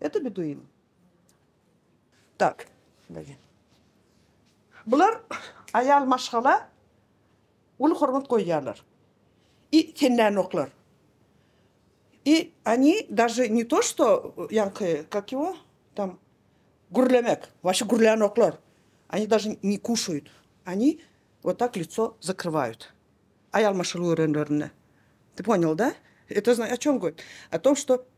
Eti bir duýuň. Tak. Bular aýal maşgala uly hormat goýýarlar. I sen nänoklar. I oni daže ne to što ýaňky kak ýo tam gürlemek waşe gürlänoklar. Oni daže ne kuşaýut. Oni wot tak lico zakrywaýut. Aýal maşgala görenlerinde. Ty ponýal da? Eto znaý o çom goýt. O tom što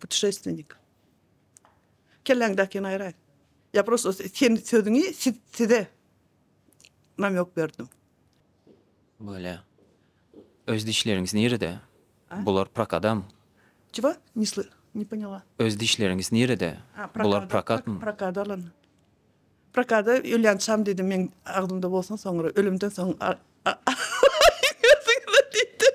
Putuşestvenik. Kelläňdäkini aýraý. Ýa prosto sen sözüňi siz size namýok berdim. Bolýa. Öz dişleriňiz nirede? Bular prokadam? Çigo? Ne sly ne poňala. Öz dişleriňiz nirede? Bular prokatmy? Prokada alan. Prokada ölýänçam diýdim meň agzymda bolsun soňra ölümden soň aýdýarsyňyz-a diýdim.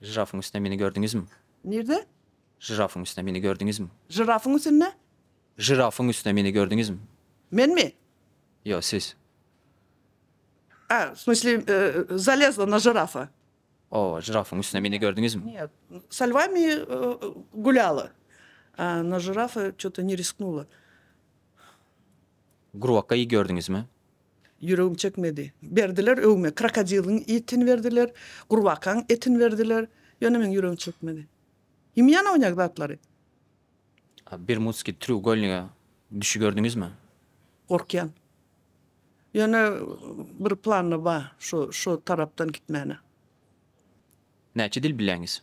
Žirafyň üstünde meni gördüňizmi? Nirde? Žirafyň üstünde meni gördüňizmi? Žirafyň üstünde? Žirafyň üstünde meni gördüňizmi? Menmi? Ýok, siz. A, w smysli, zalezla na žirafa. Oba, žirafyň üstünde meni gördüňizmi? Nýe, sa lwami gulýala, a na žirafa ço-to ne risknula. Grwakka-y gördüňizmi? Ýüregim çekmedi. Berdiler öwme, krokodiliň itini berdiler, gurbakaň etini berdiler, ýöne meň ýüregim çekmedi. Ýymýan oýnag zatlary. Bermudskiý treugolniga düşi gördüňizmi? Gorkýan. Ýöne bir planda bar, şu şu tarapdan gitmäne. Näçe dil bilýäňiz?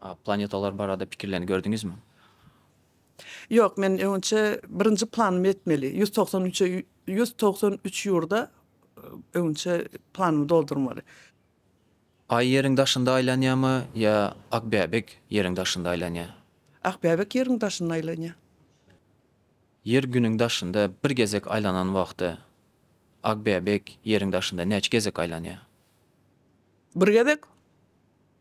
A planetalar barada pikirlerini gördüňizmi? Ýok, men öňçe birinji planym ýetmeli. Ýüz togsan üçe ýüz togsan üç ýurda öňçe planymy doldurmaly. Aý Ýeriň daşynda aýlanýamy ýa Akbäbek Ýeriň daşynda aýlanýa? Akbäbek Ýeriň daşynda aýlanýa. Ýer Günüň daşynda bir gezek aýlanan wagty Akbäbek Ýeriň daşynda näçe gezek aýlanýa? Bir gezek.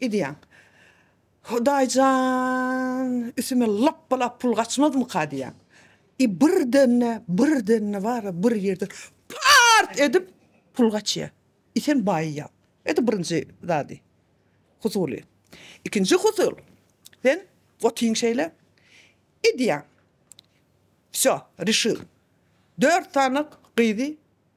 Edýäň. Hudaý jan, üstüme lapba-lap pul gaçmazmyka diýýän. I birden-de, birden-de bar-a bir ýerden part edip pul gaçýa. I sen baýýaň. Edi birinji zady, husuly. Ikinji husul, sen otyň şeýle, edýäň. Wsýo, reşil. Dört sany gyzy.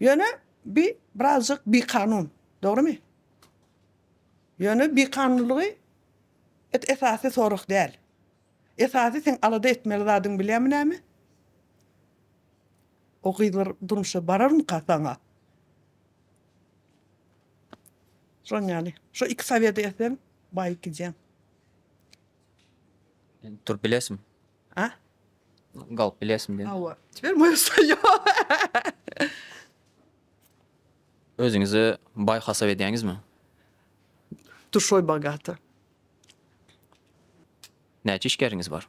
Ýöne bi birazjyk bikanun, dogrymy? Ýöne bikanunlygy et esasy sorag däl. Esasy seň alada etmeli zadyň bilýämi näme? O gyzlar durmuşa bararmyka saňa? Şon ýaly. Şo iki sowedi etseň baýyp gidýäň. Turup bilesim. A? Galyp bilersiň diýen. Hawa. Teper moýa saýýar. Özüňizi baý hasap edýäňizmi? Duşoý bogata. Näçe işgäriňiz bar?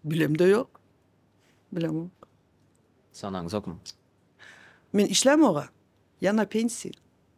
Bilemde ýok. Bilemok. Sanaňyzokmy? Men işlämog-a. Ýa na pensiýa.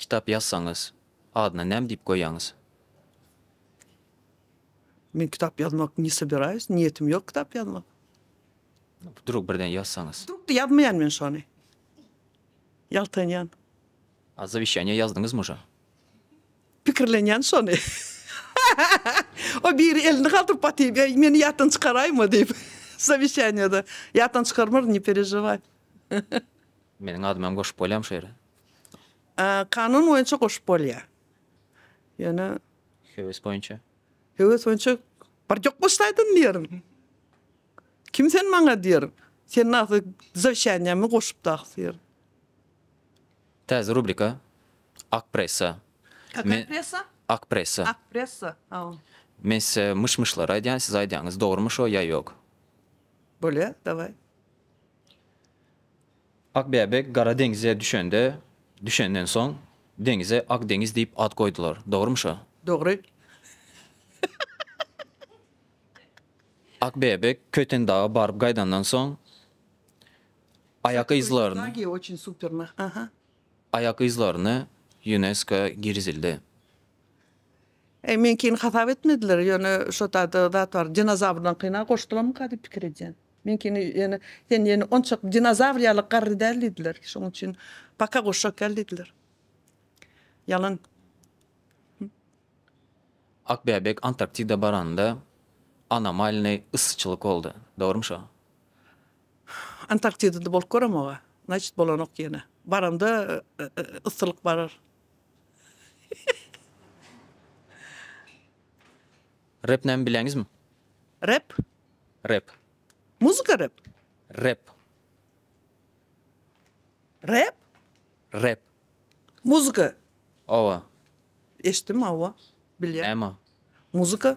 Kitap ýazsaňyz, adyna näme diýip goýýaňyz? Men kitap ýazmak ne sobirayus, niýetim ýok kitap ýazmak. Wdrug birden ýazsaňyz? Wdrug-da ýazmaýan men şony. Ýaltanýan. A zawişýaniýe ýazdyňyz muşa? Pikirlenýän şony. O biri elini galdyryp batyp, eý, meni ýatdan çykaraýma diýip. Zawişýaniýe-de ýatdan çykarmaryn, ne perejewaý. Meniň adymy hem goşup bolýamy şu ýere? Kanun boýunça goşup bolýar. Ýöne. Höwes boýunça? Höwes boýunça barjak goşsaýdyn diýerin. Kim sen maňa diýerin. Sen nahly zawşanýamy goşup dagy diýerin. Täze rubrika Ak pressa. Kaka pressa? Ak pressa. Ak pressa. Haw. Men size myş-myşlary aýdýan, siz aýdýaňyz dogrymy şo ýa ýok. Bolýa, dawaý. Akbäbek Gara deňize düşende, düşenden soň deňize Ak deňiz diýip at goýdular. Dogrumy şo? Dogry. Akbäbek Köýtendaga baryp gaýdandan soň aýak yzlaryny Köýtendagy oçin superna. Aha. aýak yzlaryny Ýunesko girizildi. Eý, meňkini hasap etmediler, ýöne şo taýda zat bar, dinozawrlaňkyna goşdularmyka diýip pikir edýän. Meňkini ýöne, sen ýöne onçak dinozawr ýaly garry däl diýdiler, şonuň üçin paka goşjak däl diýdiler. Ýalan. Akbäbek Antarktida baranda anomalnyý yssyçylyk boldy. Dogrymy şo? Antarktidada bolup göremog-a. Значит, bolanok ýene. Baranda yssylyk barar. Rep näme bileňizmi? Rep? Rep. Muzika rep? Rep. Rep? Rep. Muzika. Owa. Eşitdim, owa. Bilýän. Näme o? Muzika.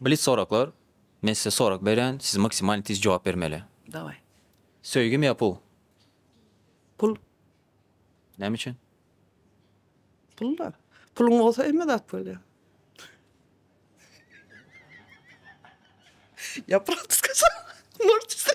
Blitz soraklar, Men size sorak berýän, siz maksimalny tiz jogap bermeli. Daway. Söýgimi ýa pul? Pul. Näme üçin? Pul-da. Puluň bolsa hemme zat bolýar. Ýa praktiska sorak. Morçice.